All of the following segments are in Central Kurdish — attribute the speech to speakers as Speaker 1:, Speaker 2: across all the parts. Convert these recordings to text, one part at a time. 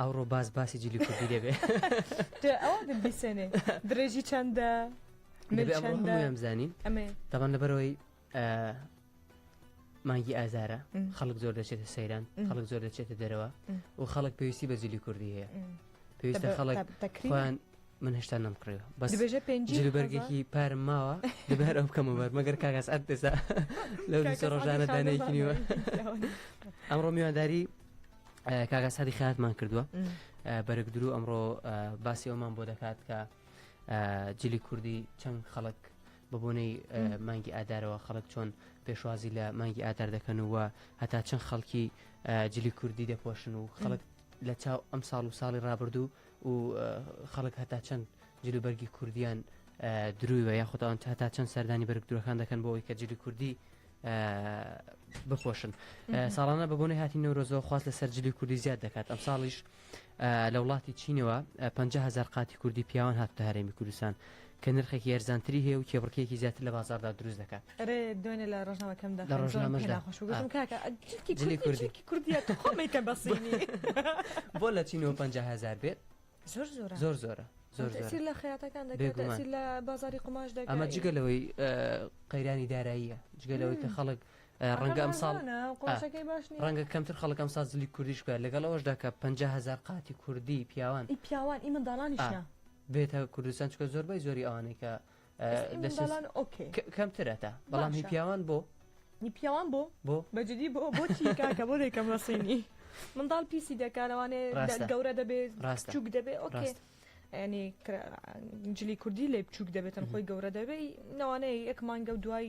Speaker 1: ئەوڕۆ باس
Speaker 2: باسی جلی کوردی دەبێ ئەوە
Speaker 1: دەبیسێنێ درێژی چەندە
Speaker 2: زانین دەبان لەبەرەوەی مانگی ئازارە خەڵک زۆر دەچێتە سەیران خەڵک زۆر دەچێتە دەرەوە و خەڵک پێویستی بە جلی کوردی هەیە پێویستە خەڵک تەکریان من هێشتا نەمکڕێەوە بەس بێژە پێنجبەرگێکی پارم ماوە دەبار ئەو بکەمە بەر مەگەر کاگەس ئەت دەسا لەو ڕۆژانە دانێکی نیوە ئەمڕۆ میوانداری کاگا سادی خاتمان کردووە بەرەک درو ئەمڕۆ باسی ئەومان بۆ دەکات کە جلی کوردی چەند خەڵک بە بۆنەی مانگی ئادارەوە خەڵک چۆن پێشوازی لە مانگی ئادار دەکەن و هەتا چەند خەڵکی جلی کوردی دەپۆشن و خەڵک لە چاو ئەم ساڵ و ساڵی رابردوو و خەڵک هەتا چەند جلوبەرگی کوردیان درویوە یاخودان هەتا چەند سەردانی بەرگدرەکان دەکەن بۆ ئەوی کە جلی کوردی بپۆشن ساڵانە بە بۆنەی هاتی نەورۆزەوە خواست لەسەر جلی کوردی زیاد دەکات ئەم ساڵیش لە وڵاتی چینەوە 500هزار قاتی کوردی پیاوان هاتە هەرێمی کوردستان کە نرخێکی یارزانتری هەیە و کێبڕکێکی زیاتر لە بازاردا دروست دەکات دوێنێ لە
Speaker 1: ڕژنەوەکەم لە
Speaker 2: ڕژنامەژداکردی
Speaker 1: کوردی بۆ
Speaker 2: لە چینەوە 500هزار بێت زۆر زۆر زۆر زۆرە زۆر زۆر لە خەیاتەکان
Speaker 1: دەگومان لە بازاری قماش دەگە ئەمە جگە لەوەی
Speaker 2: قەیرانی داراییە جگە لەوەی کە خەڵک ڕەنگە ئەم ساڵ ڕەنگە کەمتر خەڵکم سازلی کوردیش بە لەگەڵ ئەوەشدا کە 5هزار قاتی کوردی پیاوان پیاوان ئی منداڵانیشە
Speaker 1: بێتە
Speaker 2: کوردستان چکە زۆربەی زۆری ئەوانەی کە کەمترە تا بەڵام هی پیاوان بۆ هی پیاوان بۆ بۆ بەجددی بۆ
Speaker 1: بۆچی کاکە بۆ دەکەم ڕسینی منداڵ پیسی دەکارەوانێ گەورە دەبێت ڕاستچوک دەبێت ئۆکێ. ینی جلی کوردی لێ بچووک دەبێتن خۆی گەورە دەبێت نەوانەیە یەک مانگە و دوای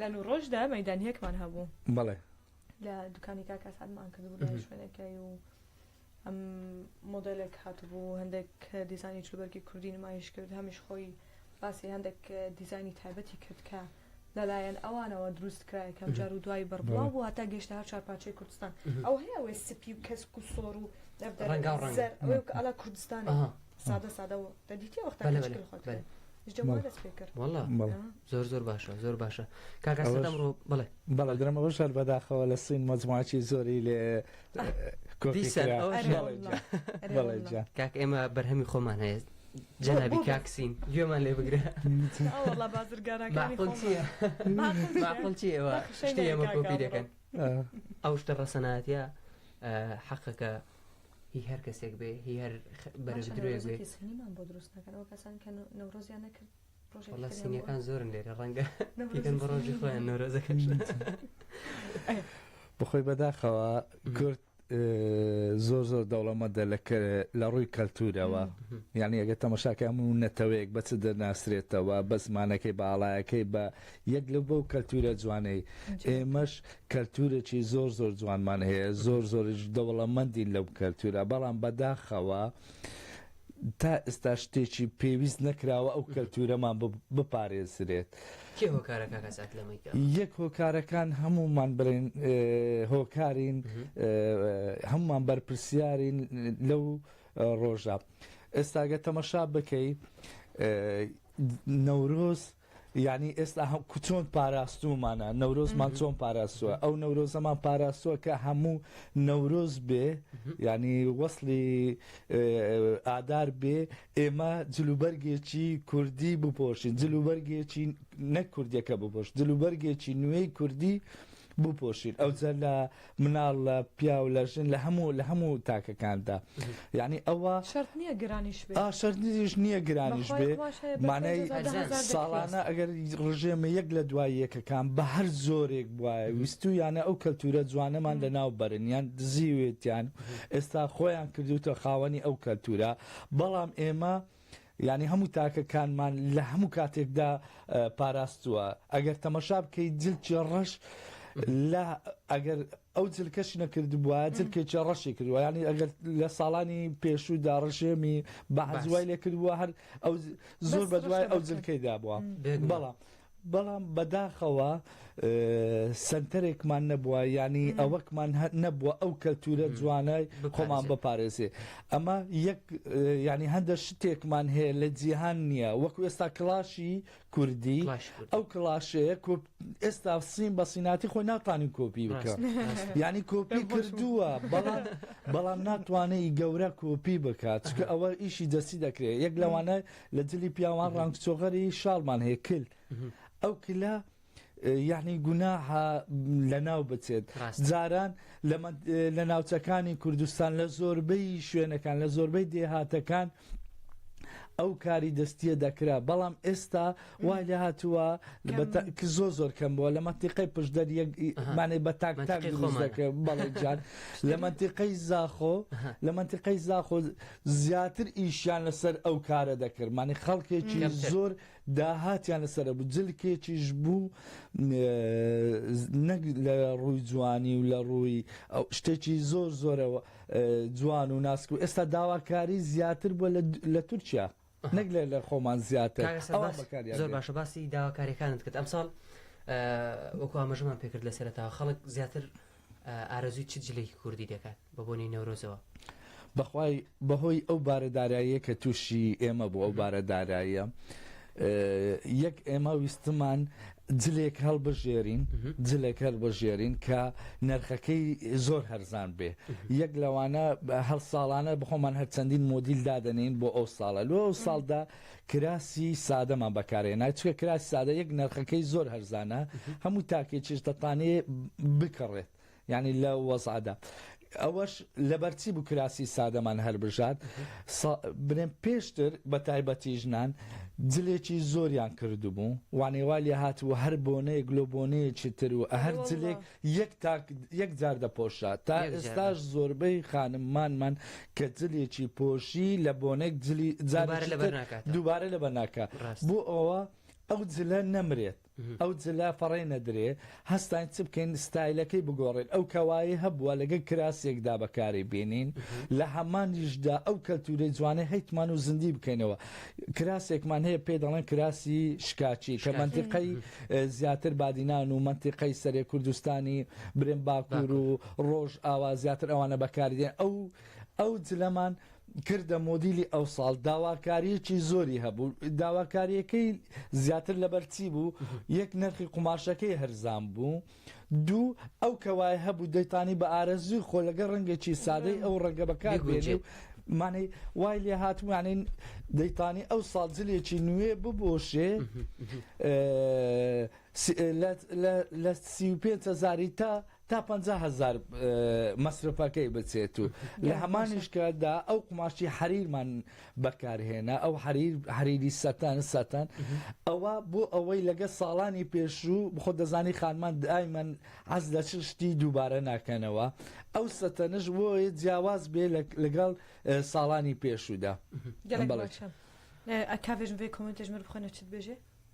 Speaker 1: لە نو ڕۆژدا مەدانیەکمان هەبوو بەڵێ
Speaker 3: لە دوکانی
Speaker 1: کاکە سادمان کردبوو لە شوێنەکەی و ئەم مۆدلێک هاتبوو هەندێک دیزانی چوبەرگی کوردی نمایش کرد هەمیش خۆی باسی هەندێک دیزانی تایبەتی کرد کە لەلایەن ئەوانەوە دروست کرای کەم جار و دوای بڕبڵاو بوو هەتا گەشتە هەر چارپاچەی کوردستان ئەو هەیە ئەوەی سپی و کەس و سۆر و ئەلا کوردستان سادە سادە دەدیتی وەختەکەخۆت
Speaker 2: زۆر زۆر باشە زۆر باشە کاکەڕۆ بڵێ بەڵێ درم ئەوە
Speaker 3: شار بەداخەوە لە سین مەزماچی زۆری لێ
Speaker 2: کاک ئێمە بەرهەمی خۆمان هەیە جەنابی کاکسین گوێمان لێ بگرە بازرگانەکانڵچیڵچیڵچیەکەن ئەو شتە ڕەسەناتە حەقەکە هی هەر کەسێک بێ هی هەر بەرەژدرێک بێ سینیمان بۆ دروست نەکەن
Speaker 1: ئەو کەسان کە نەورۆزیان نەکرد ڕۆژێک سینیەکان
Speaker 2: زۆرن لێرە ڕەنگە نەکەن بە ڕۆژی خۆیان نەورۆزەکەش
Speaker 3: بخۆی بەداخەوە کورد زۆر زۆر دەوڵەمەدە لە ڕووی کەلتورەوە یعنی ئەگە تەمەشاکە هەموو نەتەوەیەک بەچ دەناسرێتەوە بە زمانەکەی باڵایەکەی بە یەک لەو بەو کەلتورە جوانەی ئێمەش کەلتورێکی زۆر زۆر جوانمان هەیە زۆر زۆریش دەوڵەمەندین لەو کەلتورە بەڵام بەداخەوە تا ئێستا شتێکی پێویست نەکراوە ئەو کەلتورەمان بپارێزرێت کێ هۆکارە کاکە سات لەمەی کە یەک هۆکارەکان هەمومان بڵێن هۆکارین هەمومان بەرپرسیارین لەو ڕۆژە ئێستاگە تەمەشا بکەی نەورۆز یانی ئێستا هەم چۆن پاراستوومانە نەورۆزمان چۆن پاراستووە ئەو نەورۆزەمان پاراستووە کە هەموو نەورۆز بێ ینی وەصلی ئادار بێ ئێمە جلوبەرگێکی کوردی بپۆشین جلوبەرگێکی نەک کوردیەکە بپۆش جلوبەرگێکی نوێی کوردی بپۆشین ئەوجە لە مناڵ لە پیاو لە ژن لە هەموو لە هەموو تاکەکاندا یعنی ئەوە شرت نییە گرانیش
Speaker 1: شرنیش نییە
Speaker 3: گرانیش بێ مانای ساڵانە ئەگەر ڕژێمە یەک لە دوای یەکەکان بە هەر زۆرێک وایە ویستو یانە ئەو کەلتورە جوانەمان لە ناو بەرن یان دزیوێتیان ئێستا خۆیان کردوتە خاوەنی ئەو کەلتورە بەڵام ئێمە یانی هەموو تاکەکانمان لە هەموو کاتێکدا پاراستووە ئەگەر تەمەشا بکەیت جلکی ڕەش لە ئەگەر ئەو جلکەش نەکردبووە جلکێکی ڕەشی کردووە ینی ئەگەر لە ساڵانی پێشوودا ڕژێمی بە هەزوای لێکردبووە هەر ئەو زۆر بە دوای ئەو جلکەیدا بووە بەڵام بەڵام بەداخەوە سەنتەرێکمان نەبووە یانی ئەوەکمان نەبووە ئەو کەلتورە جوانە خۆمان بپارێزێ ئەمە یەک ینی هەندە شتێکمان هەیە لە جیهان نییە وەکو ئێستا کلاشی کوردی ئەو کلاشەیە ئێستا سین بە سیناتی خۆی ناتوانین کۆپی بکە ینی کۆپی کردووە بەڵام بەڵام ناتوانێت گەورە کۆپی بکات چکە ئەوە ئیشی دەستی دەکرێت یەک لەوانە لە جلی پیاوان ڕانگ چۆغەری شاڵمان هەیە کل ئەو کلە یعنی گوناها لە ناو بچێت جاران لە ناوچەکانی کوردستان لە زۆربەی شوێنەکان لە زۆربەی دێهاتەکان ئەو کاری دەستیە دەکرا بەڵام ئێستا وای لە هاتووە زۆ زۆر کەم بووە لە مەتیقی پشدەر یەکمانێ بە تاک تاک دەکە بەڵێ جان لە مەتیقی زاخۆ لە مەتیقی زاخۆ زیاتر ئیشیان لەسەر ئەو کارە دەکرد مانی خەڵکێکی کەمتر. زۆر داهاتیان لەسەر بوو جلکێکیش بوو نەک لە ڕووی جوانی و لە ڕووی ئەو شتێکی زۆر زۆرەوە جوان و ناسک و ئێستا داواکاری زیاتر بووە لە تورکیا نەک لە لە خۆمان زیاتر کاکە سەر ئەوان باس بەکاریان زۆر دێن باشە
Speaker 2: باسی داواکاریەکانت کرد ئەمساڵ ئە وەکو ئاماژەمان پێکرد لە سەرەتاوە خەڵک زیاتر ئە ئارەزووی چ جلێکی کوردی دەکات بە بۆنەی نەورۆزەوە؟ بەخوای
Speaker 3: بەهۆی ئەو بارە داراییە کە تووشی ئێمە بوو ئەو بارە داراییە ئە یەک ئێمە ویستمان جلێک هەڵبژێرین جلێک هەڵبژێرین کە نرخەکەی زۆر هەرزان بێ یەک لەوانە هەڵ ساڵانە بخۆمان هەر چەندین مۆدیل دادەنین بۆ ئەو ساڵە لۆ ئەو ساڵدا کراسی سادەمان بەکارێ ناچکە کراسی سادە یەک نرخەکەی زۆر هەرزانە هەموو تاکێکیش دەتانێ بکڕێت یانی لەو وەزعەدا ئەوەش لەبەرچی بوو کراسی سادەمان هەربژات بنێم پێشتر بە تایبەتی ژنان جلێکی زۆریان کردبوو وانێوا لێ هات و هەر بۆنەیەک لۆ بۆنەیەکی تر و هەر جلێک یەک تاک یەک جار دەپۆشا تا ئێستاش زۆربەی خانممانمان کە جلێکی پۆشی لە بۆنێک جلی جار دووبارە لەبەر ناکە بۆ ئەوە ئەو جلە نەمرێت ئەو جلە فەڕێ نەدرێ هەستاین چ بکەین ستایلەکەی بگۆڕین ئەو کەوایەی هەبووە لەگەل کراسێکدا بەکاری بینین لە هەمانیشدا ئەو کەلتورەی جوانەی هەیتمان و زندی بکەینەوە کراسێکمان هەیە پێی دەڵێن کراسی شکاچی کە مەنتیقەی زیاتر بادینان و مەنتیقەی سەرێ کوردستانی برێن باکور و ڕۆژ ئاوا زیاتر ئەوانە بەکاری دێن ئەو ئەو جلەمان و کردە مۆدیلی ئەوساڵ داواکاریەکی زۆری هەبوو داواکاریەکەی زیاتر لەبەر چی بوو یەک نرخی قوماشەکەی هەرزان بوو دوو ئەو کەوای هەبوو دەیتانی بە ئارەزوی خۆ لەگە ڕەنگێکی سادەی ئەو ڕەنگە بەکار بێنێ و مانەی وای لێ هاتمانین دەیتانی ئەو ساڵجلێکی نوێ ببۆشێ لە سی و پێ هزاری تا تا پەنجا هەزار مەسرفەکەی بچێت و لە هەمانیش کاتدا ئەو قوماشی حەریرمان بەکارهێنا ئەو حەریر حەریری سەتەن سەتەن ئەوە بۆ ئەوەی لەگە ساڵانی پێشوو بخۆ دەزانی خانمان دایمەن عەز لە چ شتی دووبارە ناکەنەوە ئەو سەتەنش بۆیە جیاواز بێ لەگەڵ ساڵانی پێشوودا.
Speaker 1: کاڤێژم بێ کۆمنتێژمر بخۆنە چت بێژێ؟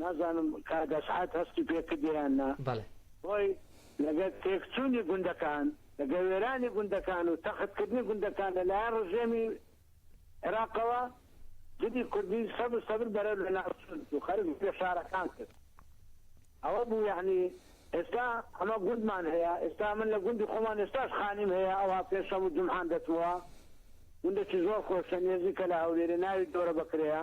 Speaker 4: نازانم کاک ئەسعەد هەستی پێ کردی یان نا، خۆی لەگەر تێکچوونی گوندەکان، لەگەر وێرانی گوندەکان و تەخت کردنی گوندەکان لە لایەن ڕژێمی عێراقەوە جلی کوردی سەبر سەبر بەرەو لە ناو چوون و خەرج لە شارەکان کرد. ئەوە بوو یەعنی ئێستا ئەمە گوندمان هەیە، ئێستا من لە گوندی خۆمان ئێستاش خانیم هەیە ئەوها پێنج شەم و جومحان دەچمەوە، گوندەکی زۆر خۆشە نێزیکە لە هەولێرێ ناوی دۆرە بەکرێیە.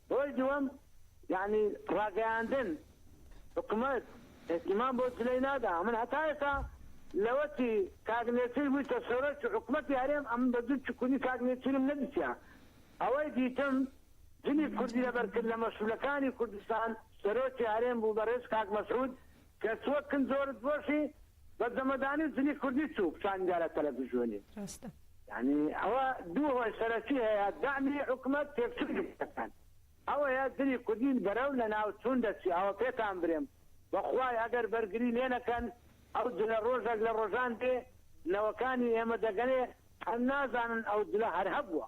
Speaker 4: هۆی دووەم یانی ڕاگەیاندن حکومەت ئیهتیمام بۆ جلەی نادا ئەمن هەتا ئێستا لەوەتی کاک نێچیر بویتە سەرۆکی حکومەتی هەرێم ئەمن بە جل چکونی کاک نێچیرم نەدیتیە ئەوەی دیتم جلی کوردی لەبەر کرد لە مەسولەکانی کوردستان سەرۆکی هەرێم بوو بەڕێز کاک مەسعود کە سوە کن زۆرت بۆشی بە زەمەدانی و جلی کوردی چوو پشانی دا لە تەلەفزیۆنی. راستە. یانی ئەوە دوو هۆی سەرەکی هەیە دەعمی حکومەت تێکچونی کورتەکان ئەوەیە جلی کوردی بەرەو لە ناو چوون دەچی ئەوە پێتان برێم بەخوای ئەگەر بەرگری لێ نەکەن ئەو جلە رۆژەک لە رۆژان دێ نەوەکانی ئێمە دەگەنێ هەر نازانن ئەو جلە هەر هەبووە.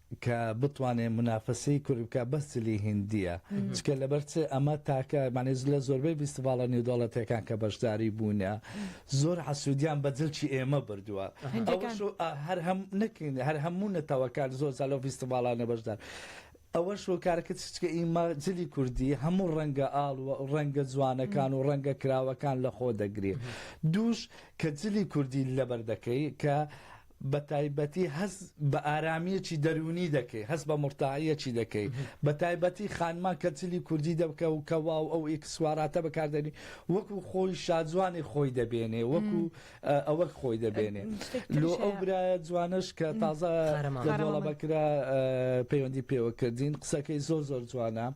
Speaker 3: کە بتوانێ منافەسەی کوردی بکا بەس جلی هندیە چکە لەبەر چ ئەمە تاکە مانێ لە زۆربەی ڤیستیڤاڵە نێودەوڵەتەکان کە بەشداری بوونە زۆر حەسوودیان بە جلکی ئێمە بردووە هەر هەم نەکەین هەر هەموو نەتەوەکان زۆر زالۆ ڤیستیڤاڵانە بەشدار ئەوەش و کارەکە چچکە ئیمە جلی کوردی هەموو ڕەنگە ئاڵ و ڕەنگە جوانەکان و ڕەنگە کراوەکان لە خۆ دەگرێت دووش کە جلی کوردی لەبەر دەکەی کە بەتایبەتی هەست بە ئارامیەکی دەروونی دەکەی هەست بە مورتاحیەکی دەکەی بەتایبەتی خانمان کە جلی کوردی دەکە و کە واو ئەو ئیکسواراتە بەکاردێنی وەکو خۆی شاجوانی خۆی دەبێنێ وەکو ئەوەک خۆی دەبێنێ لۆ ئەو برایە جوانش کە تازە لەدۆڵە بەکرا پەیوەندی پێوە کردین قسەکەی زۆر زۆر جوانە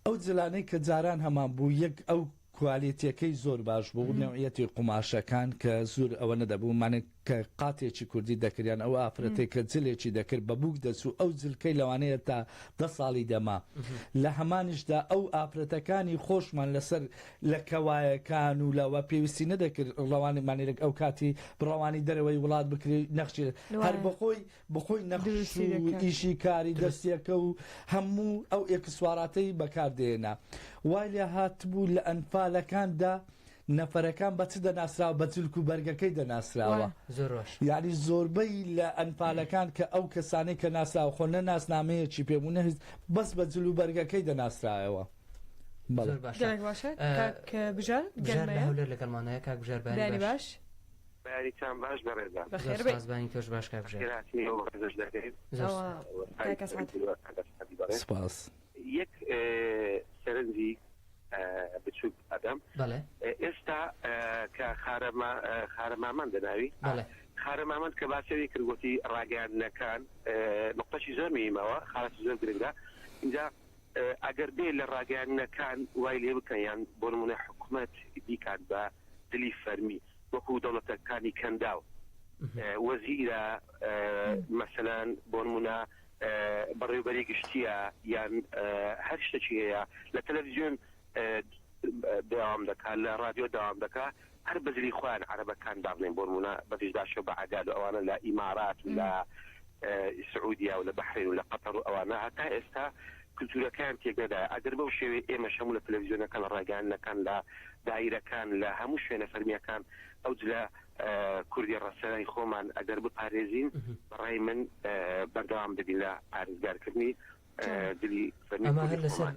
Speaker 3: ئەو جلانەی کە جاران هەمان بوو یەک ئەو کوالێتیەکەی زۆر باش بوو نەوعیەتی قوماشەکان کە زور ئەوە نەدەبوو مانک کە قاتێکی کوردی دەکریان ئەو ئافرەتەی کە جلێکی دەکرد بە بووک دەچوو ئەو جلکەی لەوانەیە تا دە ساڵی دەما لە هەمانیشدا ئەو ئافرەتەکانی خۆشمان لەسەر لە کەوایەکان و لەوە پێویستی نەدەکرد ڕەوانی مانیرک ئەو کاتی ڕەوانی دەرەوەی وڵات بکری نەخشی هەر بەخۆی بەخۆی نەقش و ئیشی کاری دەستیەکە و هەموو ئەو ئێکسسواراتەی بەکاردێنا وای لێ هاتبوو لە ئەنفالەکاندا نەفەرەکان بە چ دەناسراوە بە جلک و بەرگەکەی دەناسراوە یاعنی زۆربەی لە ئەنفالەکان کە ئەو کەسانەی کە ناسراوە خۆ نە ناسنامەیەکی پێ بوو نەهیز بەس بە جل و بەرگەکەی دەناسرایەوە بەڵێ باشە
Speaker 2: کاک بژار گەرمەیە لەگەڵمانەیە کاک بژار باش بەیانیتان
Speaker 4: باش بەڕێزان. زۆر سوپاس بانی تۆش
Speaker 2: باش کاک ژیار. سوپاس. یەک
Speaker 4: سەرنجی بچوک ئەدەم. بەڵێ. ئێستا کە خارە ما خارە مامەند دەناوی. بەڵێ. خارە مامەند کە باسەوی کرد گۆتی ڕاگەیاندنەکان نقطەشی زۆر میمەوە خارەی زۆر گرنگە اینجا ئەگەر بێ لە ڕاگەیاندنەکان وای لێ بکەن یان بۆ نمونە حکومەت بیکات بە دلی فەرمی. وەکو دەوڵەتە کانی کەنداو وەزیرە مەسەلان بۆنمونە بەڕێوبەری گشتیە یان هەر شتەکی هەیە لە تەلەفزیۆن داوام دەکات لە ڕادیۆ داوام دەکا هەر
Speaker 5: بەزلی خۆیان عربەکان دابنێن بۆنمونە بەزش داشە بە عداد و ئەوانە لە ئیمارات لە سعودیا و لە بحرین و لە قەتەڕ ئەوانە هەتا ئێستا کلتورەکەیان تێک نەدایە ئەگەر بەو شێوەیە ئێمەش هەموو لە تەلەفزیۆنەکان لە ڕاگەیاندنەکان لە دایرەکان لە هەموو شوێنە فەرمیەکان ئەو جلە کوردی ڕەسەنای خۆمان ئەگەر بپارێزین بەڕای من بەردەوام دەبین لە پارێزگارکردنی ئەمە هەر
Speaker 2: لەسەر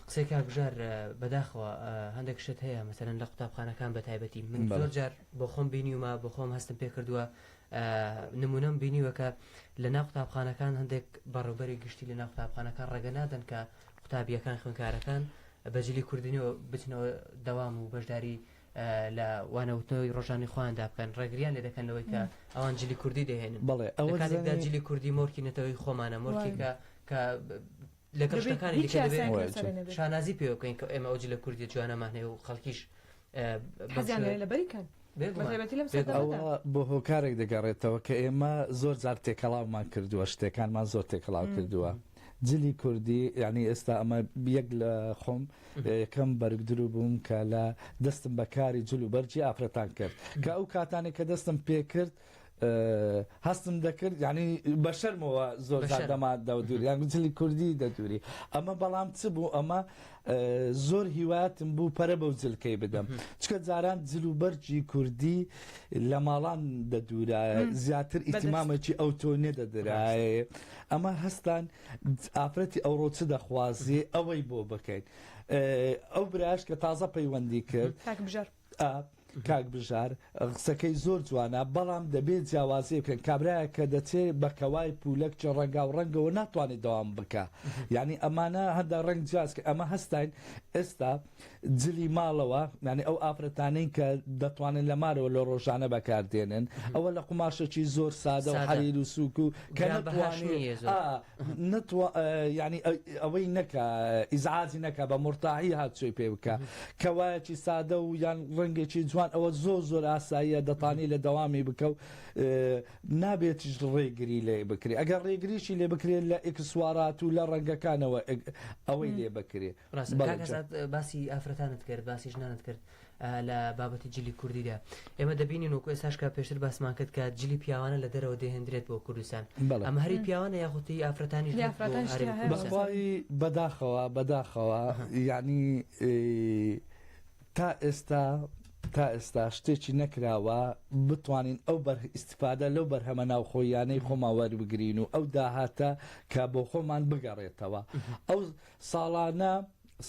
Speaker 2: قسەی کاکژار بەداخەوە هەندێک شت هەیە مەسەرەن لە قوتابخانەکان بە تایبەتی من زۆر جار بۆ خۆم بینیومە بۆ خۆم هەستم پێ کردووە نموونەم بینیوە کە لە ناو قوتابخانەکان هەندێک بەڕێوبەری گشتی لە ناو قوتابخانەکان ڕێگە نادەن کە قوتابیەکان خوێنکارەکان بەجلی کوردنەوە بچنەوە دەوام و بەشداری لە وانەوتنەوەی ڕۆژانی خۆیاندا بکەن ڕێگریان لێ دەکەن لەوەی کە ئەوان جلی کوردی دەهێنن بەڵێ ئەوەدا جلی کوردی مۆرکی نەتەوەی خۆمانە مۆرکێکە کە لەگەڵ دەبێت شتەکانی هیچ دیکە دەبێت یاسایەک وایە لەسەرێ چۆن نەبێت شانازی پێوە بکەین کە ئێمە ئەو جلە کوردیە جوانەمان هەیە و خەڵکیش ئە، بەم حەزیان شێوەیە
Speaker 1: لێیە لەبەری کەن بە بێگومان تایبەتی لەم بێگومان سەردەمەدا
Speaker 3: ئەوە بۆ هۆکارێک دەگەڕێتەوە کە ئێمە زۆر جار تێکەڵاومان کردووە شتێکانمان زۆر تێکەڵاو مم. کردووە جلی کوردی یعنی ئێستا ئەمە یەک لە خۆم یەکەم بەرگدرو بووم کە لە دەستم بە کاری جل و بەرگی ئافرەتان کرد کە ئەو کاتانێک کە دەستم پێ کرد هەستم دەکرد یعنی بە شەرمەوە زۆر دەما دەودوری یان گوتلی کوردی دەدوری ئەمە بەڵام چ بوو ئەمە زۆر هیواتم بوو پەرە بەو جلکەی بدەم چکە جاران جل و بەرجی کوردی لە ماڵان دەدورە زیاتر ئیتمامێکی ئەو تۆ نێدەدرایە ئەمە هەستان ئافرەتی ئەوڕۆ چ دەخوازی ئەوەی بۆ بکەین ئەو براش کە تازە پەیوەندی کرد ئا کاک بژار قسەکەی زۆر جوانە بەڵام دەبێ جیاوازی بکەن کابرایەک کە دەچێ بە کەوای پولەک چ ڕەنگاو ڕەنگەوە ناتوانێت دەوام بکە یعنی ئەمانە هەندە ڕەنگ جیاز کە ئەمە هەستاین ئێستا جلی ماڵەوە یعنی ئەو ئافرەتانەی کە دەتوانن لە مارەوە لە ڕۆژانە بەکاردێنن ئەوە لە قوماشەکی زۆر سادە و سادە. حەریر و سووک و کە گران بەهاش نتوانێ نییە زۆر. ئا نەتوا یانی ئەوەی نەکا ئیزعاجی نەکا بە مرتاحی هاتچۆی پێ بکە کەوایەکی سادە و یان ڕەنگێکی جوان ئەوە زۆر زۆر ئاساییە دەتانی لە دەوامی بکە و نابێتیش ڕێگری لێ بکرێ ئەگەر ڕێگریشی لێ بکرێت لە ئکسوارات و لە ڕەنگەکانەوە ئەوەی لێ بکرێ باسی
Speaker 2: ئافرەتانت کرد باسی ژنانت کرد لە بابەتی جلی کوردیدا ئێمە دەبینین وەکو ئێستاش کە پێشتر باسمان کرد کە جلی پیاوانە لە دەرەوە دەهێندرێت بۆ کوردستان بەڵێ ئەمە هەری پیاوانە یاخودی ئافرەتانیش هەیە بۆ ئافرەتانیش هەرێمی تیا هەیە کوردستان بەخوای
Speaker 3: بەخوای بەداخەوە بەداخەوە ئەها یعنی تا ئێستا تا ئێستا شتێکی نەکراوە بتوانین ئەو بەر ئیسیفادە لەو بەرهەمە ناوخۆیانەی مهم. خۆمان وەربگرین و ئەو داهاتە کە بۆ خۆمان بگەڕێتەوە ئەو ساڵانە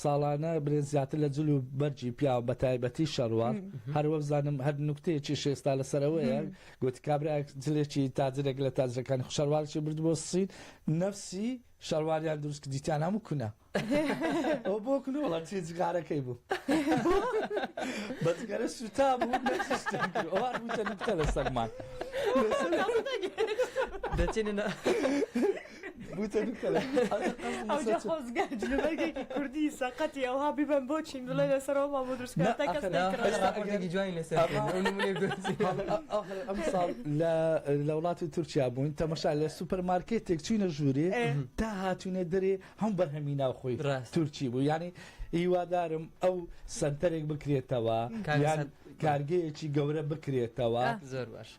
Speaker 3: ساڵانە برێن زیاتر لە جل و بەرجی پیاو بە تایبەتی شەڕوار هەر وەبزانم هەر نوکتەیەکی شێستا لەسەرەوەیە گوتی کابرا جلێکی تاجرێک لە تاجرەکانی خوشەڕوارکی برد بۆ سین نەفسی شەرواریان دروست دیتیان هەموو کونە ئەو بۆ کون وڵات چی جغارەکەی بوو بەگەرە سوتا بوو نەکتە لە سەرمان
Speaker 2: دەچێنە
Speaker 1: کوردی سەقەتی ئەوها ببم بۆ چین بڵێ لەسەرەوە ما بۆ درست
Speaker 3: لە وڵاتی تورکیا بوون تەمەشا لە سوپەرمارکێتێک چوینە ژوورێ تا هاتوونە دەرێ هەم بە هەمی ناوخۆی تورکی بوو ینی هیوادارم ئەو سنتەرێک بکرێتەوە کارگەیەکی گەورە بکرێتەوە زۆر باش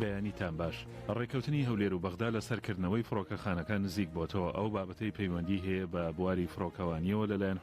Speaker 6: بەیانیتان باش ڕێککەوتنی هەولێر و بەغدا لە سەرکردنەوەی فڕۆکەخانەکان نزیک بۆتەوە ئەو بابەتەی پەیوەندی هەیە بە بواری فڕۆکەوانیەوە لەلایەن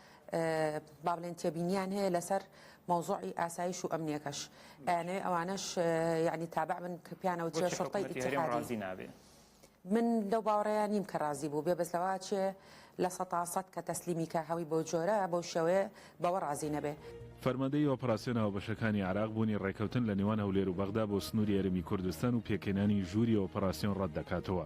Speaker 7: با بڵێن تێبینیان هەیە لەسەر مەوزوعی ئاسایش و ئەمنیەکەش ئەیانەوێ ئەوانەش یعنی تابع بن کە پیانەوە چێ شڕتەی ئیتحادی نابێ. من لەو باوەڕەیە نیم کە ڕازی بوو بێ بەسەوا چێ لە سەتاسەد کە تەسلیمی کە هەوی بۆ جۆرە بۆ شێوەیە بەوە ڕازی نەبێ. فەرماندەیی
Speaker 6: ئۆپراسیۆن هاوبەشەکانی عێراق بوونی ڕێککەوتن لە نێوان هەولێر و بەغدا بۆ سنووری هەرێمی کوردستان و پێکهێنانی ژووری ئۆپراسیۆن ڕەت دەکاتەوە.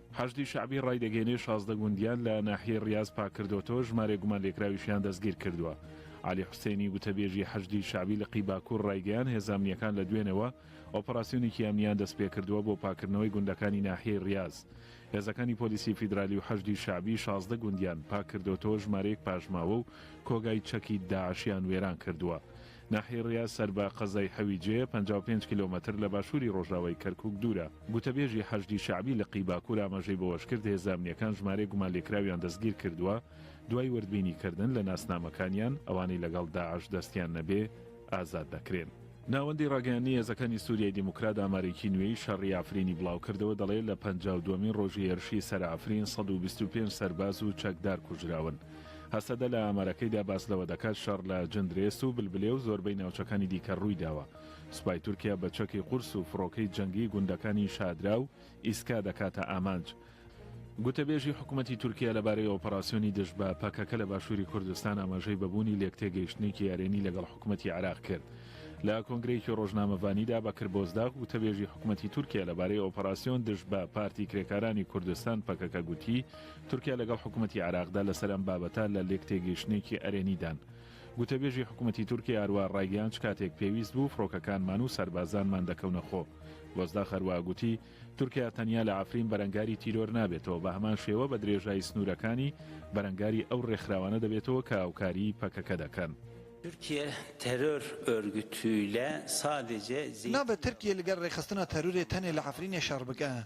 Speaker 6: حەشدی شەعبی ڕایدەگەینێ شازدە گوندیان لە ناحیەی ڕیاز پاککردۆتەوە ژمارێ گومانلێکراویشیان دەستگیرکردوە. عەلی حوسێنی گوتەبێژی حەشدی شەعبی لقی باکور ڕایگەیان هێزە ئەمنیەکان لە دوێنێوە ئۆپەراسیۆنێکی ئەمنیان دەستپێکردوە بۆ پاککردنەوەی گوندەکانی ناحیەی ڕیاز. هێزەکانی پۆلیسی فیدرالی و حەشدی شەعبی شازدە گوندیان پاککردۆتەوە ژمارەیەک پاشماوە و کۆگای چەکی داعشیان وێرانکردوە. ناحیەی ڕیاز سەر بە قەزای حەویجێ، پەنجا و پێنج کیلۆمەتر لە باشووری ڕۆژاوای کەرکووک دوورە. گوتەبێژی حەشدی شەعبی لقی باکوور ئاماژەی بەوەشکرد، هێزە ئەمنییەکان ژمارەیەک گومانلێکراویان دەستگیرکردووە، دوای وردبینیکردن لە ناسنامەکانیان، ئەوانەی لەگەڵ داعش دەستیان نەبێ ئازاد دەکرێن. ناوەندی ڕاگەیاندنی هێزەکانی سووریای دیموکرات ئامارێکی نوێی شەڕی عەفرینی بڵاوکردەوە، دەڵێ، لە پەنجا و دووەمین ڕۆژی هێرشی سەر عەفرین سەد و بیست و پێنج سەرباز و چەکدار کوژراون. هەسەدە لە ئامارەکەیدا باس لەوە دەکات شەڕ لە جندرێس و بلبلێ و زۆربەی ناوچەکانی دیکە ڕوویداوە. سوپای تورکیا بە چەکی قورس و فڕۆکەی جەنگی گوندەکانی شادرا و ئیسکا دەکاتە ئامانج. گوتەبێژی حکومەتی تورکیا لەبارەی ئۆپەراسیۆنی دژ بە پەکەکە لە باشووری کوردستان ئاماژەی بە بوونی لێکتێگەیشتنێکی ئەرێنی لەگەڵ حکومەتی عێراق کرد. لە کۆنگرەیەکی ڕۆژنامەڤانیدا بەکر بۆزداغ گوتەبێژی حکومەتی تورکیا لەبارەی ئۆپەراسیۆن دژ بە پارتی کرێکارانی کوردستان پەکەکە گوتی، تورکیا لەگەڵ حکومەتی عێراقدا لەسەر ئەم بابەتە لە لێکتێگەیشتنێکی ئەرێنیدان. گوتەبێژی حکومەتی تورکیا هەروە ڕایگەیان چ کاتێک پێویست بوو فڕۆکەکانمان و سەربازانمان دەکەونە خۆ. بۆزداخ هەروە گوتی، تورکیا تەنیا لە عەفرین بەرەنگاری تیرۆر نابێتەوە، بە هەمان شێوە بە درێژایی سنوورەکانی بەرەنگاری ئەو ڕێکخراوانە دەبێتەوە کە هاوکاریی پەکەکە دەکەن. Türkiye
Speaker 8: terör örgütüyle sadece Zeytinburnu. نابێت ترکیە
Speaker 9: لەگەر ڕێکخستنە تەرورێ تەنێ لە عەفرینێ شەڕ بکا.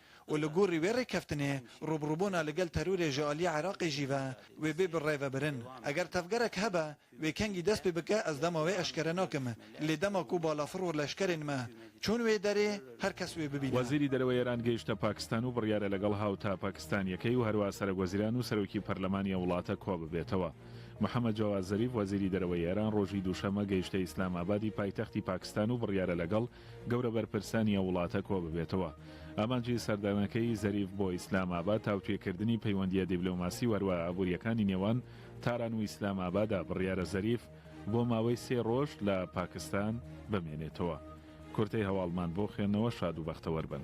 Speaker 9: و لە گۆڕی وێ رێککەفتنێ رووبڕووبۆنا لەگەل تەروورێ ژەالی عراقێ ژی ڤە وێ بێ بڕێ ڤە برن. ئەگەر تەڤگەرەک هەبە وێ کەنگی دەس پێ بکە ئەز دەما وێ ئەشکەرە ناکەم لێ دەما کوو باڵافڕ و لەشکەرێن مە چوون وێ دەرێ هەر کەس وێ ببینا. وەزیری دەرەوەی ئێران گەیشتە
Speaker 6: پاکستان و بڕیارە لەگەڵ هاوتا پاکستانییەکەی و هەروا سەرەکوەزیران و سەرۆکی پەرلەمانی ئەو وڵاتە کۆببێتەوە. محەمەد جەواد زەریف وەزیری دەرەوەی ئێران ڕۆژی دووشەممە گەیشتە ئیسلام ئابادی پایتەختی پاکستان و بڕیارە لەگەڵ گەورە بەرپرسانی ئەو وڵاتە کۆببێتەوە. ئامانجی سەردانەکەی زەریف بۆ ئیسلام ئاباد تاوتوێکردنی پەیوەندییە دیبلۆماسی و هەروەها ئابوورییەکانی نێوان تاران و ئیسلام ئابادە، بڕیارە زەریف بۆ ماوەی سێ رۆژ لە پاکستان بمێنێتەوە. کورتەی هەواڵمان بۆ خوێندنەوە شاد و بەختەوەر بن.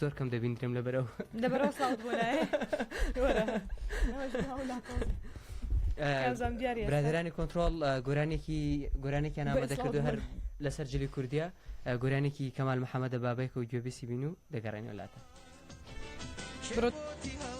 Speaker 2: زۆر کەم دەبیندرێم لە بەرەو لەبەرەوە ساڵ برادرانی کۆنتترۆل گۆرانێکی گۆرانێکیان نامە دەکرد هەر لەسەر جلی کوردیا گۆرانێکی کەمال محەممەدە بابێکە و گوێبیسی بین و دەگەڕێنەوە لاتە.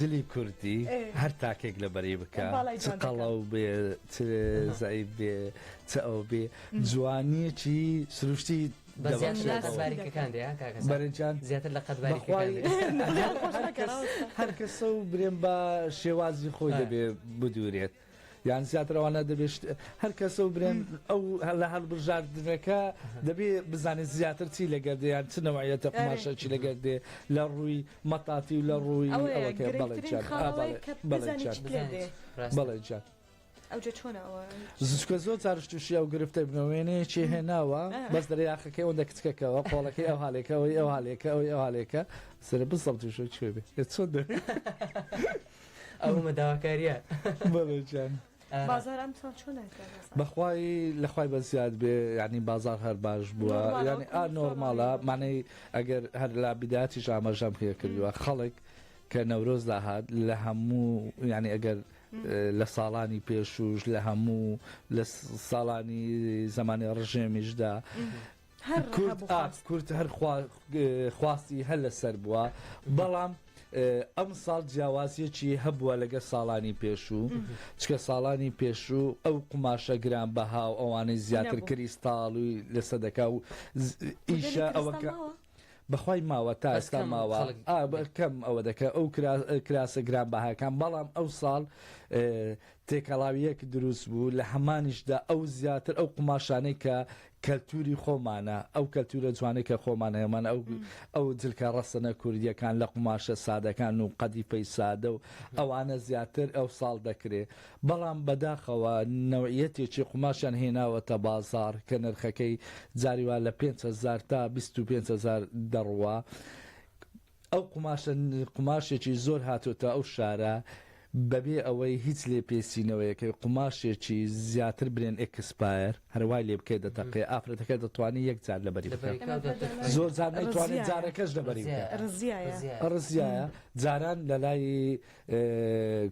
Speaker 3: دلی کوردی هەر تاکێک لە بەری بکە قەڵاو بێ زای بێ چ ئەو بێ جوانیەکی سروشتی
Speaker 2: بەرجان زیاتر لە قەت
Speaker 3: هەر کەسە و برێن بە شێوازی خۆی دەبێ بدورێت. یان زیاتر ئەوانە دەبێت هەر کەسە و برێن ئەو لە هەڵبژاردنەکە دەبێ بزانێت زیاتر چی لەگەر دەیان چ نەوەیەتە قماشەکی لەگەر دێ لە ڕووی مەتافی و لە ڕووی ئەوەکە بەڵێ جات.
Speaker 1: زچکە زۆر
Speaker 3: چارشتوشی ئەو گرفتە بنەوێنەیەکی هێناوە بەس دەرە یاخەکەی ئەوەندە کچکەکەەوە قۆڵەکەی ئەو هاالێکەوەی ئەو هاالێکە ئەوی ئەوالێکە سرە بسەڵ توشە کوێ بێت چۆن دەێت
Speaker 2: ئەومە داواکاریە بەڵێجان
Speaker 3: بازار
Speaker 1: ئەمساڵ چۆن بەخوای
Speaker 3: لەخوای بە زیاد بێ ینی بازار هەر باش بووە ینی ئا نۆرماڵە مانەی ئەگەر هەر لا بداتی ژامەژەم پێ کردووە خەڵک کە نەورۆز داهات لە هەموو ینی ئەگەر لە ساڵانی پێشوش لە هەموو لە ساڵانی زمانی ڕژێمیشدا کورد ئاخ کورد هەر خواستی هەر لەسەر بووە بەڵام ئەم ساڵ جیاوازیەکی هەبووە لەگە ساڵانی پێشوو چکە ساڵانی پێشوو ئەو قوماشە گران بەها و ئەوانەی زیاتر کریستاڵوی لەسە دەکا و ئیشە ئەوەکە. بەخوای ماوە تا ئێستا ماوە کەم ئەوە دەکە ئەو کراسە گران بەهاکان بەڵام ئەو ساڵ تێکەڵاویەک دروست بوو لە هەمانیشدا ئەو زیاتر ئەو قوماشانەی کە کەلتوری خۆمانە ئەو کەلتورە جوانەی کە خۆمان هەمان ئەو ئەو جلکە ڕەسەنە کوردیەکان لە قوماشە سادەکان و قەدیفەی سادە و ئەوانە زیاتر ئەو ساڵ دەکرێ بەڵام بەداخەوە نەوعەتێکی قوماشیان هێناوەتە بازار کە نرخەکەی جاری وا لە پێنج هەزار تا بیست و پێنج هەزار دەڕوا ئەو قوماشە قوماشێکی زۆر هاتۆتە ئەو شارە بەبێ ئەوەی هیچ لێپێچینەوەیەکەی قوماشێکی زیاتر برێن ئێکسپایەر هەر وای لێ بکەی دەتەقێ ئافرەتەکە دەتوانێ یەک جار لەبەری بکات زۆر جار نەیتوانێت جارەکەش لەبەری بکات ڕزیایە ڕزیایە جاران لەلای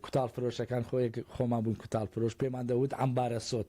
Speaker 3: کوتاڵ فرۆشەکان خۆیەک خۆمان بووین کوتاڵ فرۆش پێمان دەوت عەمبارە سۆت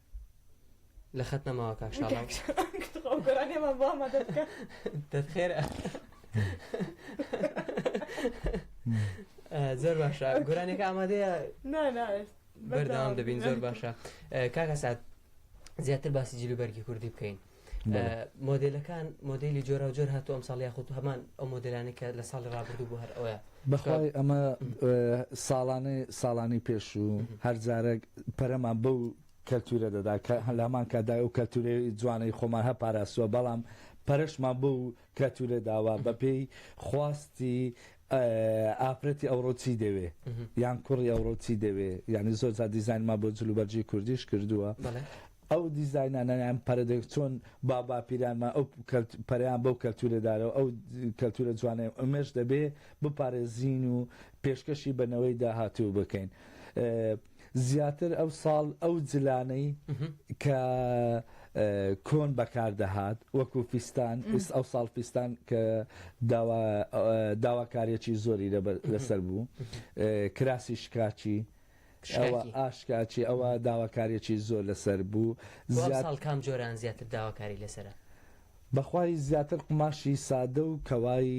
Speaker 2: لە خەت نەماوە کاک شاڵاو گۆرانێمان بۆ ئەمە دەبکە دەت خێرە زۆر باشە گۆرانێکە ئامادەیە بەردەوام دەبین زۆر باشە کاکە سات زیاتر باسی جلوبەرگی کوردی بکەین مۆدلەکان مۆدلی جۆرا جۆر هاتو ئەم ساڵ یاخود هەمان ئەو مۆدلانی کە لە ساڵی ڕابردوو بۆ هەر ئەوە بەخوای ئەمە
Speaker 3: ساڵانەی ساڵانی پێش و هەرجارێک پەرەمان بەو کەلتورە دەدا کە هەلامان کادای و کەلتوری جوانەی خۆمان هە پاراستووە بەڵام پەرشمان بۆ کەلتورە داوا بەپێی خواستی ئافرەتی ئەوڕۆ چی دەوێ یان کوڕی ئەوڕۆ چی دەوێ یعنی زۆر جا دیزانما بۆ جلوبەرجی کوردیش کردووە ئەو دیزینانەیان پەرەدەک چۆن باباپیرانمە ئەو پەریان بەو کەلتورەدارەوە ئەو کەلتورە جوانێ ئەمێش دەبێ بپارێزین و پێشکەشی بەنەوەی داهاتوو بکەین. زیاتر ئەو ساڵ ئەو جلانەی کە کۆن بەکار دەهات وەکو فیستان ئیس ئەو ساڵ فیستان کە داواکاریەکی زۆری لەسەر بوو کراسی شکاچی ئەوە ئاشکاچی ئەوە داواکاریەکی زۆر لەسەر بوو زیاد کام
Speaker 2: جۆران زیاتر داواکاری لەسرە بەخوای
Speaker 3: زیاتر قوماشی سادە و کەوای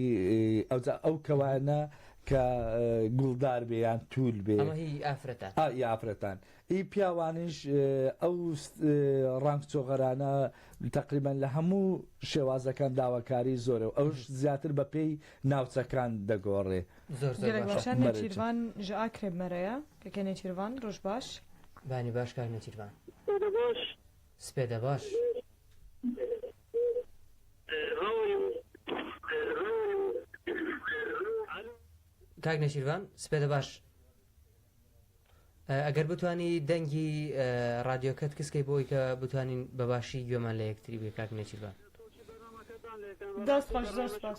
Speaker 3: ئەوجا ئەو کەوایانە کە گوڵدار بێ یان توول بێ ئەمە هی ئافرەتان ئا ئی ئافرەتان ئی پیاوانیش ئەو ڕەنگ چۆغەرانە تەقریبەن لە هەموو شێوازەکان داواکاری زۆرە و ئەوش زیاتر بە پێی ناوچەکان دەگۆڕێ زۆر زۆر گەلەک باشە باشە مەرج
Speaker 1: نێچیرڤان ژە ئا کرێب مەرەیە کە کێ نێچیرڤان ڕۆژ باش. بانی باش کاک
Speaker 2: نێچیرڤان. ڕۆژ سپێدە باش. کاک نێچیرڤان سپێدە باش ئەگەر بتانی دەنگی ڕادیۆکەت کس کەی بۆی کە بتوانین بە باشی گوێمان لە یەکتری بێ کاک نێچیرڤان دەست خۆش زۆر سپاس.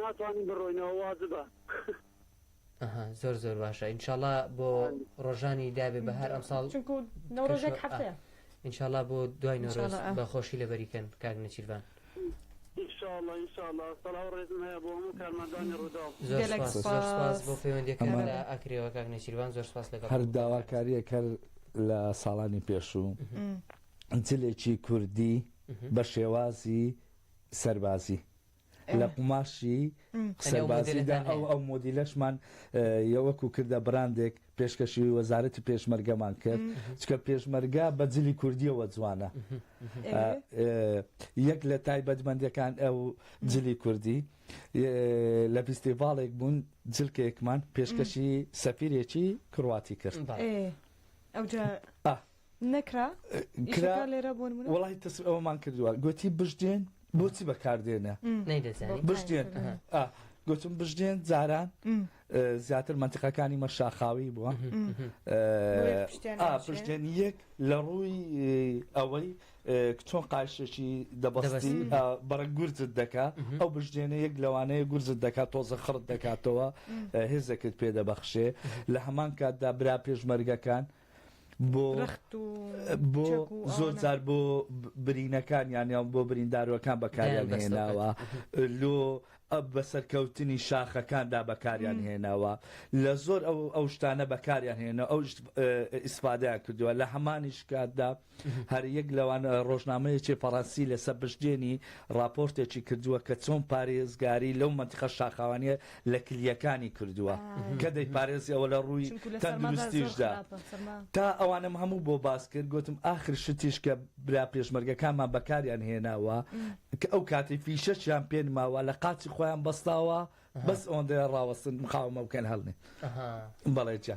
Speaker 4: ناتوانین بڕۆینەوە واجبە.
Speaker 2: ئەها زۆر زۆر باشە ئینشاڵا بۆ ڕۆژانی دابێ بەهار ئەمساڵ چونکو نەورۆژێک
Speaker 1: هەفتەیە ئینشاڵا بۆ
Speaker 2: دوای نەورۆز بە خۆشی لەبەریکەن کاک نێچیرڤان. انشاءاللە انشاءاللە سلاو ڕێزم هەیە بۆ هەموو کارمەندانی ڕوداو. زۆر سوپاس زۆر سوپاس بۆ پەیوەندیەکەت لە ئاکرێوە کاک نێچیرڤان زۆر سوپاس لەگەڵ هەر داواکاریەک
Speaker 3: هەر لە ساڵانی پێشوو جلێکی کوردی بە شێوازی سەربازی لە قوماشی سەربازیدا ئەو ئەو مۆدیلەشمان یەوەکو کردە بڕاندێک پێشکەشی وەزارەتی پێشمەرگەمان کرد چکە پێشمەرگە بە جلی کوردیەوە جوانە یەک لە تایبەتمەندەکان ئەو جلی کوردی لە فیستیڤاڵێک بوون جلکێکمان پێشکەشی سەفیرێکی کڕواتی کرد ئەوجا
Speaker 1: نەکرا کرا وڵی تەس ئەومان
Speaker 3: کردووە گوتی بژدێن بۆچی بەکاردێنە بژدێن گوتم بژدێن جاران زیاتر منتیقەکانی مە شاخاوی بووە پشتێن یەک لە ڕووی ئەوەی چۆن قایشێکی دەبەستی بەڕە گورجت دەکا ئەو بژدێنە یەک لەوانەیە گورجت دەکات تۆزە خڕت دەکاتەوە هێزەکرد پێ دەبەخشێ لە هەمان کاتدا برا پێشمەرگەکان. بۆ بۆ زۆر جار بۆ برینەکان یانیان بۆ بریندارەکان بەکاریان هێناوە لۆ ئە بە سەرکەوتنی شاخەکاندا بەکاریان هێناوە لە زۆر ئەو ئەو شتانە بەکاریان هێنە ئەو ئیسفادەیان کردووە لە هەمانیش کاتدا هەر یەک لەوان ڕۆژنامەیەکی فەڕەنسی لە سەر پشتێنی ڕاپۆرتێکی کردووە کە چۆن پارێزگاری لەو مەنتیقە شاخاوانییە لە کلییەکانی کردووە کە دەیپارێزی ئەوە لە ڕووی چونکە لە سەرما دا زۆر تەندروستیشدا خراپە سەرما تا ئەوانەم هەموو بۆ باس کرد گوتم ئاخر شتیش کە برا پێشمەرگەکانمان بەکاریان هێناوە کە ئەو کاتی فیشەکیان پێ نماوە لە قاچی خۆیان بەستاوە بەس ئەوەندەیە ڕاوەستن مقاومە بکەن هەڵنێ ئەها بەڵێ جا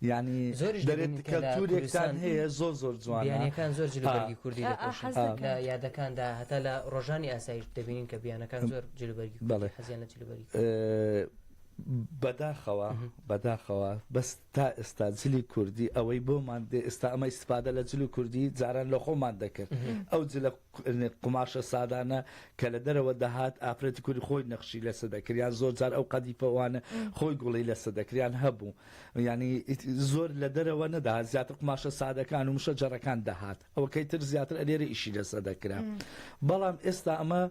Speaker 3: یانی زۆریش دەبینین دەرێت کە لە کەلتورێکتان کوردستان هەیە زۆر زۆر جوانە بیانیەکان زۆر جل و
Speaker 2: بەرگی کوردی ئا ئا دەپۆشن حەز ئا لە دەکەم یادەکاندا هەتا لە ڕۆژانی ئاسایش دەبینین کە بیانەکان زۆر جل و بەرگی کوردی بەڵێ حەزیان لە جل و بەرگی کوردی بەداخەوە
Speaker 3: مهم. بەداخەوە بەس تا ئێستا جلی کوردی ئەوەی بۆمان دێ ئێستا ئەمە ئیستفادە لە جل و کوردی جاران لە خۆمان دەکرد مهم. ئەو جلە قوماشە سادانە کە لە دەرەوە دەهات ئافرەتی کوردی خۆی نەخشی لەسەر دەکرد یان زۆر جار ئەو قەدیفە وانە خۆی گوڵی لەسەر دەکرد یان هەبوو یانی زۆر لە دەرەوە نەدەهات زیاتر قوماشە سادەکان و مشە جەڕەکان دەهات ئەوە کەی تر زیاتر ئەلێرە ئیشی لەسە دەکرا بەڵام ئێستا ئەمە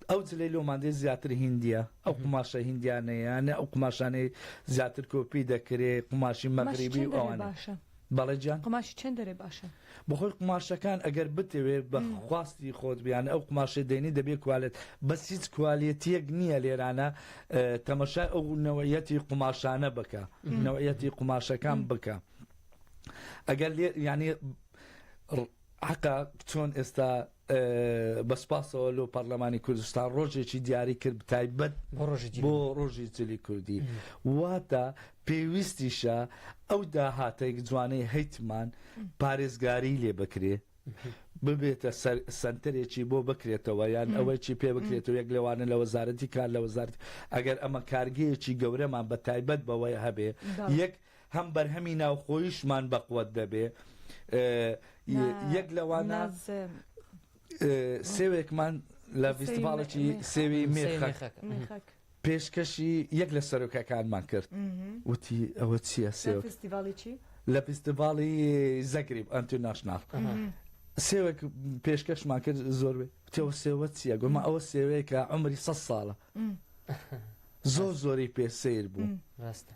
Speaker 3: ئەو جلەی لۆماندێ زیاتر هندیە ئەو قماشە هندیانەیەیانە ئەو قماشانەی زیاتر کۆپی دەکرێ قماشی مەغریبی ئەوانە بەڵێ گیان. قوماشی چەند دەرێ باشە؟
Speaker 1: بەخۆی قوماشەکان
Speaker 3: ئەگەر بتەوێ بە خواستی خۆت بیانە ئەو قوماشەی دێنی دەبێ کوالێت بەس هیچ کوالێتیەک نییە لێرانە تەمەشای ئەو نەوەیەتی قوماشانە بکە نەوەیەتی قوماشەکان بکە ئەگەر لێ ینی حەقە چۆن ئێستا بە سپاسەوە لۆ پەرلەمانی کوردستان ڕۆژێکی دیاری کرد بتایبەت بۆ ڕۆژی جلی کوردی واتە پێویستیشە ئەو داهاتێک جوانەی هەیتمان پارێزگاری لێ بکرێ ببێتە سنتەرێکی بۆ بکرێتەوە یان ئەوەیی پێ بکرێتەوە یەک لەوانە لە وەزارەتی کار لە وەزارت ئەگەر ئەمە کارگەیەکی گەورەمان بە تایبەت بەوەی هەبێ یەک هەم بەرهەمی ناوخۆیشمان بەقوەت دەبێ یەک لەوانە سێوێکمان لە فیستیڤاڵێکی سێوی مێخەکە پێشکەشی یەک لە سەرۆکەکانمان کرد وتی ئەوە چییە سێوە فستیڤاڵی چی؟ لە فستیڤاڵی زەگریب ئەنترناشنال سێوێک پێشکەشمان کرد زۆر تێوە سێوە چییە گومە ئەوە سێوەیەکە عمری سە ساڵە زۆر زۆری پێ سیر بوو ڕاستە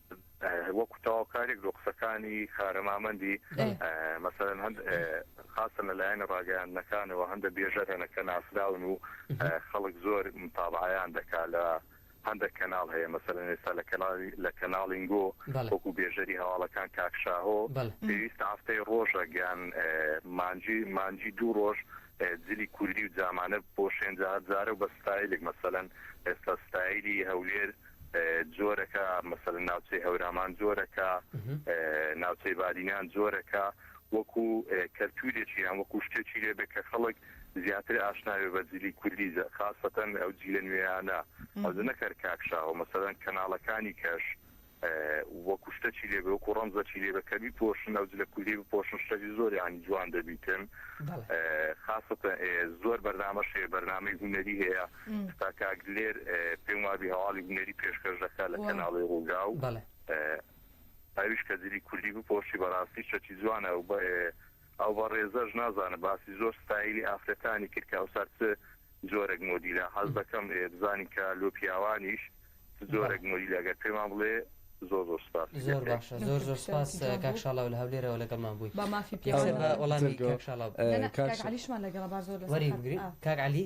Speaker 5: وەکو تەواوکاریک لۆ قسەکانی خارە مامەندی مەسەلەن هەند خاستن لە لایەنە ڕاگەیاندنەکانەوە هەندە بێژەر هەنە کە ناسراون و خەڵک زۆر متابعیان دەکا لە هەندێک کەناڵ هەیە مەسەلەن ئێستا لە کەناڵی لە کەناڵینگۆ وەکو بێژەری هەواڵەکان کاک شاهۆ پێویستە هەفتەی ڕۆژە گیان مانجی مانجی دوو ڕۆژ جلی کوردی و جامانە بۆ شێنجارجارە و بە ستایلێک مەسەلەن ئێستا ستایلی هەولێر جۆرەکە مەسەلەن ناوچەی هەورامان جۆرەکە ناوچەی بادینان جۆرەکە وەکو کەلتورێکی یان وەکو شتێکی لێبێ کە خەڵک زیاتر ئاشناوێ بە جلی کوردی خاستەن ئەو جیلە نوێیانە ئەو نەکەر کاکشاوە مەسەدەن کەناڵەکانی کەش وەکو شتەچی لێ وەکو ڕەمزەچی لێ بە کەبی پۆشن ئەو جلە کوردی بپۆشن شتەجی زۆریانی جوان دەبیتن خاستە زۆر بەرنامەشەیە بەرنمەی هوەری هەیە ستا کاک دلێر پێم وابی هەواڵی هونەری پێشکەش دەکا لە کەناڵی ڕووداو ئەویش کە جلی کوردی بپۆشی بەڕاستی شەتی جوانە ئەو بە ئەو بە ڕێزەش نازانە باسی زۆر ستایلی ئافرەتانی کرد کە ئەوسا چ جۆرەك مۆدیلا حەز دەکەم بزانین کە لۆ پیاوانیش جۆرەك مۆدیل ئەگەر پێمان بڵێ زۆر زۆر سپاس زۆر باشە زۆر زۆر
Speaker 2: سپاس کاک شاڵا لە هەولێرەوە لەگەڵمان بووی با مافی پێ
Speaker 1: وڵامی کاک
Speaker 2: شاڵا کاک علیشمان
Speaker 1: لەگەڵ با زۆر لەسەر کاک
Speaker 2: علی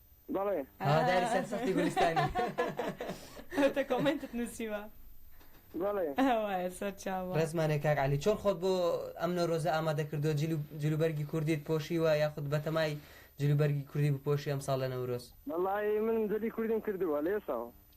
Speaker 4: بەڵێ هەواداری
Speaker 2: سەرسەختی گولستانی ئەوتە
Speaker 1: کۆمێنتت نووسیوە
Speaker 4: بەڵێ وایە
Speaker 1: سەرچاوە ڕێزمانێ کاک علی چۆن
Speaker 2: خۆت بۆ ئەم نەورۆزە ئامادە کردو جلوبەرگی کوردیت پۆشیوە یاخود بەتەمای جلوبەرگی کوردی بپۆشی ئەمساڵ لە نەورۆز وەڵڵاهی من جلی
Speaker 4: کوردیم کردووە لەێساوە.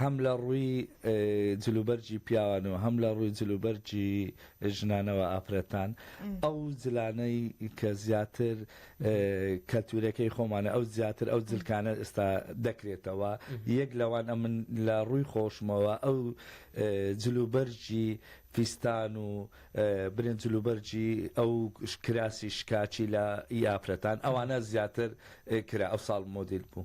Speaker 3: هەم لە ڕووی جلوبەرگی پیاوان و هەم لە ڕووی جلوبەرگی ژنانەوە ئافرەتان ئەو جلانەی کە زیاتر کەلتورەکەی خۆمانە ئەو زیاتر ئەو جلکانە ئێستا دەکرێتەوە یەک لەوان ئەمن لە ڕووی خۆشمەوە ئەو جلوبەرگی فیستان و برێن جلوبەرگی ئەو کراسی شکاکی لە ئی ئافرەتان ئەوانە زیاتر کرا ئەو ساڵ مۆدیل بوو.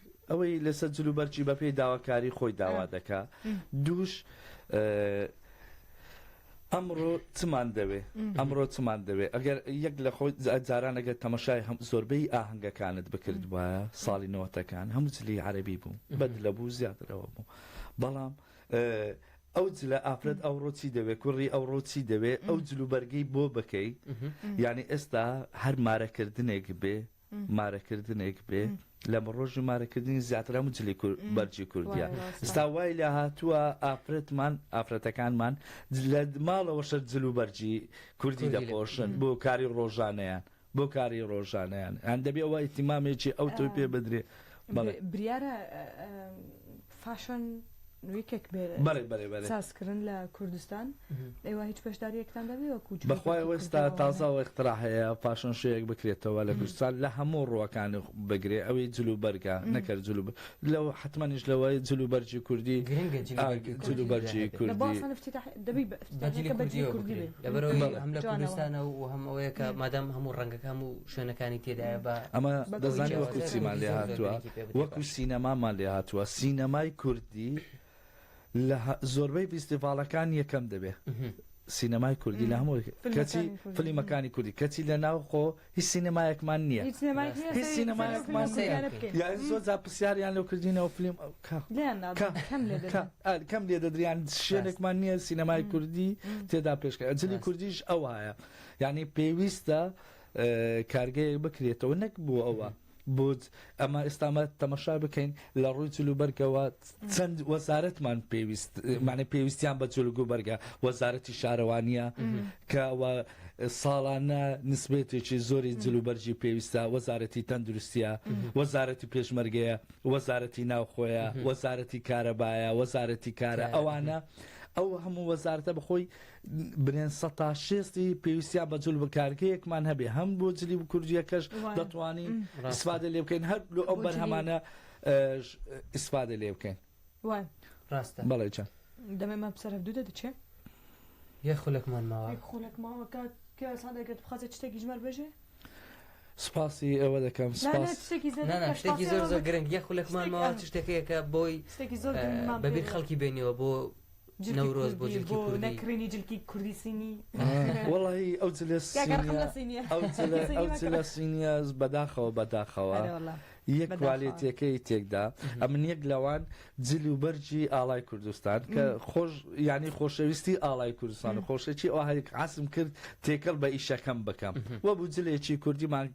Speaker 3: ئەوەی لەسەر جل و بەرگی بەپێی داواکاری خۆی داوا دەکا دووش ئەمڕۆ چمان دەوێ ئەمڕۆ چمان دەوێ ئەگەر یەک لە خۆی جاران ئەگەر تەمەشای هەم زۆربەی ئاهنگەکانت بکرد وایە ساڵی نەوەتەکان هەموو جلی عەربی بوو بەد لە بوو زیاترەوە بوو بەڵام ئەو جلە ئافرەت ئەو ڕۆچی دەوێت کوڕی ئەو ڕۆچی دەوێت ئەو جلوبەرگەی بۆ بکەیت یعنی ئێستا هەر مارەکردنێک بێ مارەکردنێک بێ لەمە ڕۆژی مارەکردنی زیاتر هەموو جلی بەرجی کوردیا ستا وای لە هاتووە ئافرەتمان ئافرەتەکانمان لە ماڵەوە شەر جل و بەرجی کوردی دەپۆشن بۆ کاری ڕۆژانەیان بۆ کاری ڕۆژانیان هەندەبێ وای تیمامێکی ئەو تۆی پێ بدرێ بریارە
Speaker 1: فاشن نویکێک سازکردن لە کوردستان ئێوە هیچ بەشداریەکتان دەبێ وەکو بەخوای وەستا
Speaker 3: تازە وەخترا هەیە فاشن شوەیەک بکرێتەوە لە کوردستان لە هەموو ڕوەکان بگرێ ئەوی جلو بەرگە نەکرد جلو لەو حتممەنیش لەوەی جلو بەرجی کوردی جلو بەرجی کوردی
Speaker 2: لەبەرەوەی هەم لە کوردستانە و هەم ئەوەیە کە مادەم هەموو ڕەنگەکە هەموو شوێنەکانی تێدایە بە. ئەمە دەزانی
Speaker 3: وەکو چیمان لێ هاتووە وەکو سینەمامان لێ هاتووە سینەمای کوردی لە زۆربەی فیستیڤاڵەکان یەکەم دەبێ سینەمای کوردی لە هەموو کەچی فلیمەکانی کوردی کەچی لە ناوخۆ هیچ سینەمایەکمان نییە هیچ سینەمایەکمان زۆزا پرسیاریان لەو کردینەوە فلیم کەم لێ دەدریان شوێنێکمان نییە سینەمای کوردی تێدا پێشکە ئەجلی کوردیش ئەوایە یعنی پێویستە کارگەیەک بکرێتەوە نەک بۆ ئەوە بۆت ئەمە ئێستامە تەمەشا بکەین لە ڕووی جل و بەرگەوە چەند وەزارەتمان پێویست معنی پێویستیان بە جلگ و بەرگە وەزارەتی شارەوانیە کە ساڵانە نسبێتێکی زۆری جل و بەرجی پێویستە وەزارەتی تەندروستە وەزارەتی پێشمەرگەیە وەزارەتی ناوخۆیە وەزارەتی کارەبایە وەزارەتی کارە ئەوانە ئەو هەموو وەزارتە بخۆی برێن سەتا شێستی پێویستیا بە جل بکارگەیەکمان هەبێ هەم بۆ جلی کوردیەکەش دەتوانین ئیسفادە لێ بکەین هەر لۆ ئەو بەرهەمانە ئیسفادە لێ بکەین ڕاستە
Speaker 2: بەڵێ چەند
Speaker 3: دەمێ مە بسەرف
Speaker 1: دوو دەچێ یە
Speaker 2: خولەکمان ماوە خولەک ماوە کاک
Speaker 1: پیاسان دەگەت بخەزە شتێکی ژمار بژێ
Speaker 3: سپاسی ئەوە دەکەم شتێکی
Speaker 2: زۆر زۆر گرنگ یە خولەکمان ماوە شتێکەکە بۆی بەبییر خەڵکی بێنیەوە بۆ نەورۆز بۆ
Speaker 1: جلکی کوردی نەکڕینی
Speaker 3: جلکی کوردی سینی وەڵی ئەو جلە سینیە سینیە بەداخەوە بەداخەوە یەک کوالێتەکەی تێکدا ئەمن یەک لەوان جل و بەرجی ئاڵای کوردستان کە خۆش ینی خۆشەویستی ئاڵای کوردستان و خۆشەکی ئەو هەرێک عسم کرد تێکەڵ بە ئیشەکەم بکەم وە بوو جلێکی کوردیمان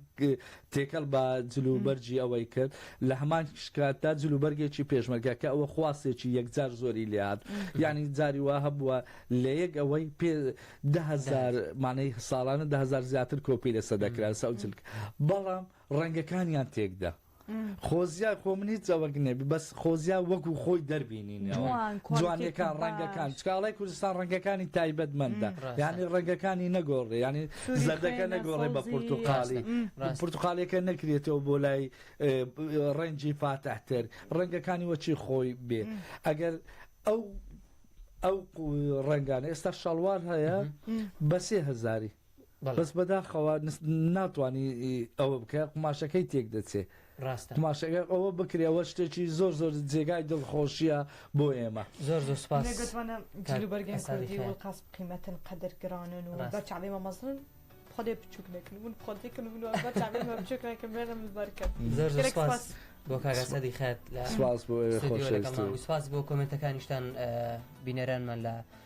Speaker 3: تێکەڵ بە جلوبەرگی ئەوەی کرد، لە هەمان کاتدا جلوبەرگێکی پێشمەرگە، کە ئەوە خواستێکی یەکجار زۆری لێ هات. یانی جاری وا هەبووە لە یەک ئەوەی پێ دە هەزار، مانای ساڵانە دە هەزار زیاتر کۆپی لەسەر دەکرا، لەسەر ئەو جلکە. بەڵام ڕەنگەکانیان تێکدا. خۆزیا خۆ من هیچ ئەوەک نێبی بەس خۆزیا وەکو خۆی دەربینینەوە جوانەکان ڕەنگەکان چکاڵای کوردستان ڕەنگەکانی تایبەت مندە یعنی ڕەنگەکانی نەگۆڕێ ینی زەردەکە نەگۆڕێ بە پرتوقالی پرتوقالەکە نەکرێتەوە بۆ لای ڕەنجی فاتەحتر ڕەنگەکانی وەچی خۆی بێ ئەگەر ئەو ئەو ڕەنگانە ئێستا شەڵوار هەیە بە سێ هزاری بەس بەداخەوە ناتوانی ئەوە بکە قماشەکەی تێک دەچێ ڕاستە قماشەکە ئەوە بکرێ ئەوە شتێکی زۆر زۆر جێگای دڵخۆشیە بۆ ئێمە زۆر زۆر
Speaker 2: سپاس بەرگێن
Speaker 1: کوردی وڵقاس قیمەتن قەدر گرانن و بەچ علی مەمەزن خۆێ بچوک نەکن من خۆێکن من بچوکەکەم بێنم بەرکەم زۆر زۆر سپاس
Speaker 2: بۆ کاگاسەدی خێت لە سپاس بۆ
Speaker 3: خۆش سپاس بۆ
Speaker 2: کۆمنتەکانیشتان بینەرانمان لە